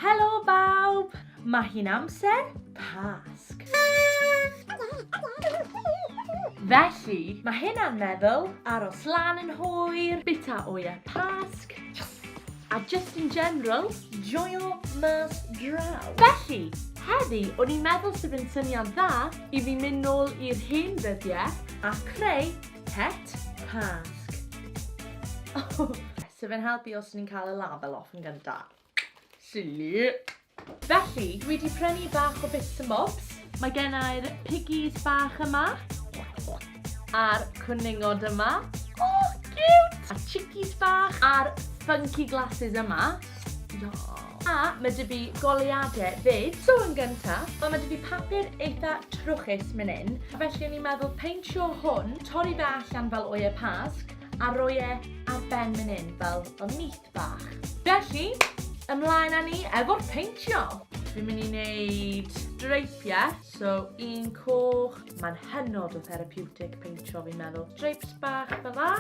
Helo bawb! Mae hi'n amser Pasg. Felly, mae hynna'n meddwl, aros lan yn hwyr, bita oia Pasg, a just in general, joio mas draw. Felly, heddi, o'n i'n meddwl sydd yn syniad dda i fi mynd nôl i'r hen ddyddiau a creu Pet Pasg. Oh. So fe'n helpu os ni'n cael y label off yn gynta. Silly. Felly, dwi wedi prynu bach o bits and bobs. Mae gennau'r piggies bach yma. A'r cwningod yma. Oh, cute! A chickies bach. A'r funky glasses yma. A mae dy fi goliadau fyd. So yn gyntaf, wel mae dy fi papur eitha trwchus myn yn, felly o'n i'n meddwl peintio hwn, torri fe allan fel oie pasg, a roi e ar ben myn yn fel o nith bach. Felly, ymlaen â ni efo'r peintio. Fi'n mynd i wneud dreipiau, so un coch, mae'n hynod o therapeutic peintio fi'n meddwl. Dreips bach fel la.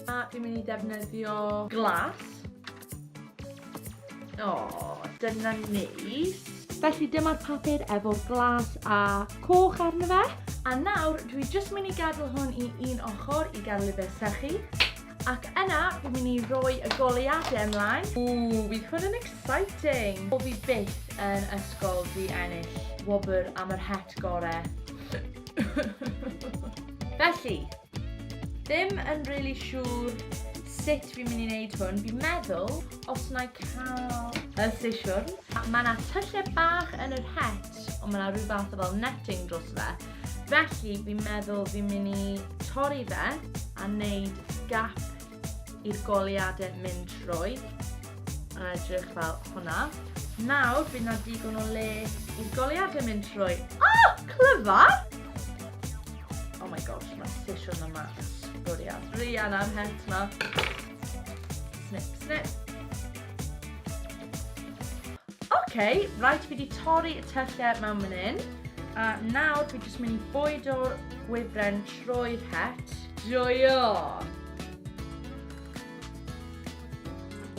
A dwi'n mynd i defnyddio glas. O, dyna neis. Felly dyma'r papur efo'r glas a coch arno fe. A nawr, dwi jyst mynd i gadael hwn i un ochr i gael fe sychu. Ac yna, dwi'n mynd i roi y goleiadau ymlaen. Ww, bydd hwn yn exciting. O fi byth yn ysgol fi ennill wobr am yr het gore. Felly, Ddim yn really siŵr sut fi'n mynd i wneud hwn. Fi'n meddwl, os na i cael y sesiwn, mae yna tyllau bach yn yr het, ond mae yna rhyw fath o fel netting dros fe. Felly, fi'n meddwl fi'n mynd i torri fe a wneud gap i'r goliadau mynd trwy. A edrych fel hwnna. Nawr, bydd yna digon o le i'r goliadau mynd trwy. Oh, clyfar! Oh my gosh, mae sesiwn yma yn sbwriel. Rian am het ma. Snip, snip. Oce, okay, rhaid fi di torri y tyllau mewn mynd un. A nawr fi jyst mynd i bwydo'r gwybren trwy'r het. Joio!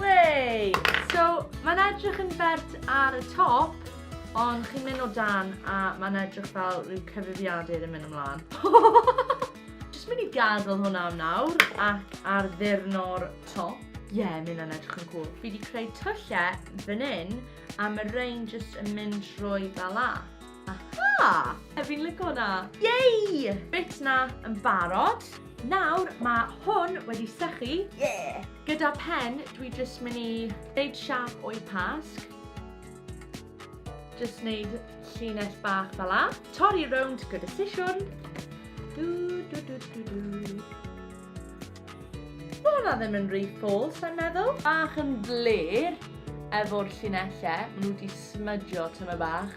Wey! So, mae'n edrych yn bert ar y top, Ond chi'n mynd o dan a mae'n edrych fel rhyw cyfrifiadur yn mynd ymlaen. Just mynd i gadael hwnna am nawr ac ar ddurno'r top. Ie, yeah, mynd yn edrych yn cool. Fi wedi creu tyllau fan hyn a mae rhain just yn mynd trwy fel la. Aha! E fi'n lygo hwnna. Yay! Bit na yn barod. Nawr mae hwn wedi sychu. Yeah! Gyda pen, dwi jyst mynd i wneud siap o'i pasg. Just wneud llinell bach fel la. Torri rownd gyda sisiwn. Du, du, du, du, du. Mae hwnna ddim yn rhy ffôl, sa'n meddwl. Bach yn fler efo'r llinellau. Mae nhw wedi smydio tyma bach.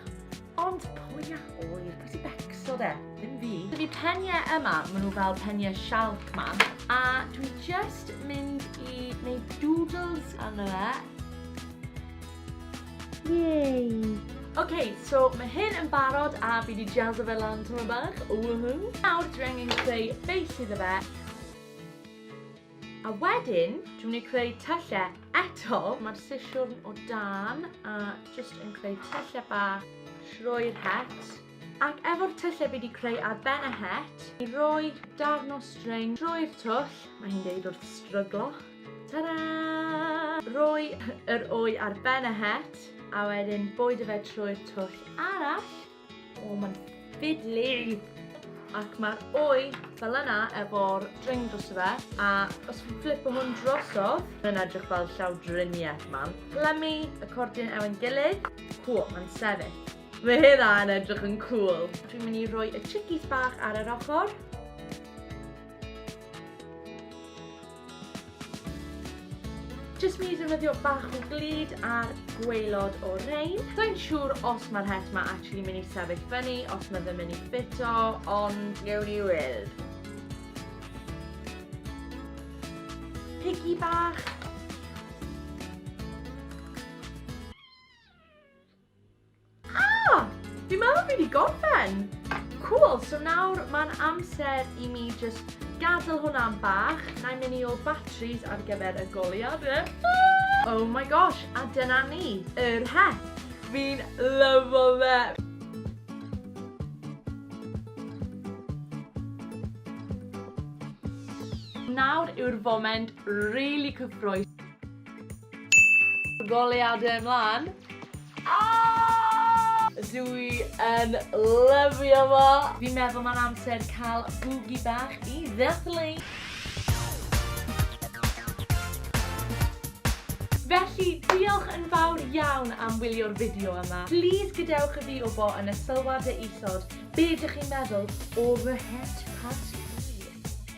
Ond pwy a hwyr, pwy sy'n becso de? Ddim fi. Dydy peniau yma, maen nhw fel peniau sialc ma. A dwi just mynd i wneud doodles arno fe. Yay! Ok, so mae hyn yn barod a fi di jazzo fe lan tyma bach, woohoo. Nawr dwi angen creu base iddo fe. A wedyn, dwi'n mynd i creu tyllau eto. Mae'r sisiwrn o dan a jyst yn creu tyllau bach trwy'r het. Ac efo'r tyllau fi wedi creu ar ben y het, i roi darn o string drwy'r twll, mae hi'n deud wrth stryglo, Ta-ra! Rhoi yr wy ar ben y het a wedyn bwydo fe trwy'r twll arall. O, mae'n ffidlu! Ac mae'r wy fel yna efo'r dring dros y fe, a os chi'n flipo hwn drosodd, mae'n edrych fel llawdriniaeth man. Plymu y cordyn efo'n gilydd. Cool, mae'n sefyll. Mae hynna yn edrych yn cool. Dwi'n mynd i roi y chickies bach ar yr ochr. Jyst mynd i ddefnyddio bach o glud ar gwaelod o rein. Sa'n siŵr os mae'r het ma actually mynd i sefyll fyny, os mae ddim mynd i ffito, ond gewn ni weld. Piggy bach. Ah! Fi'n meddwl fi wedi gorffen! Cool, so nawr mae'n amser i mi just gadael hwnna am bach. Na i mynd i ôl batteries ar gyfer y goliad. Oh my gosh, a dyna ni, yr het. Fi'n lyfo fe. Nawr yw'r foment really cyffroes. Goleadau ymlaen. Aaaaah! Dw i yn lyfio fo! Fi'n meddwl mae'n amser cael bwgi bach i ddathlu! Felly, diolch yn fawr iawn am wylio'r fideo yma. Plîs gadewch i fi wbo yn y sylwadau isod be dych chi'n meddwl o fy het parti.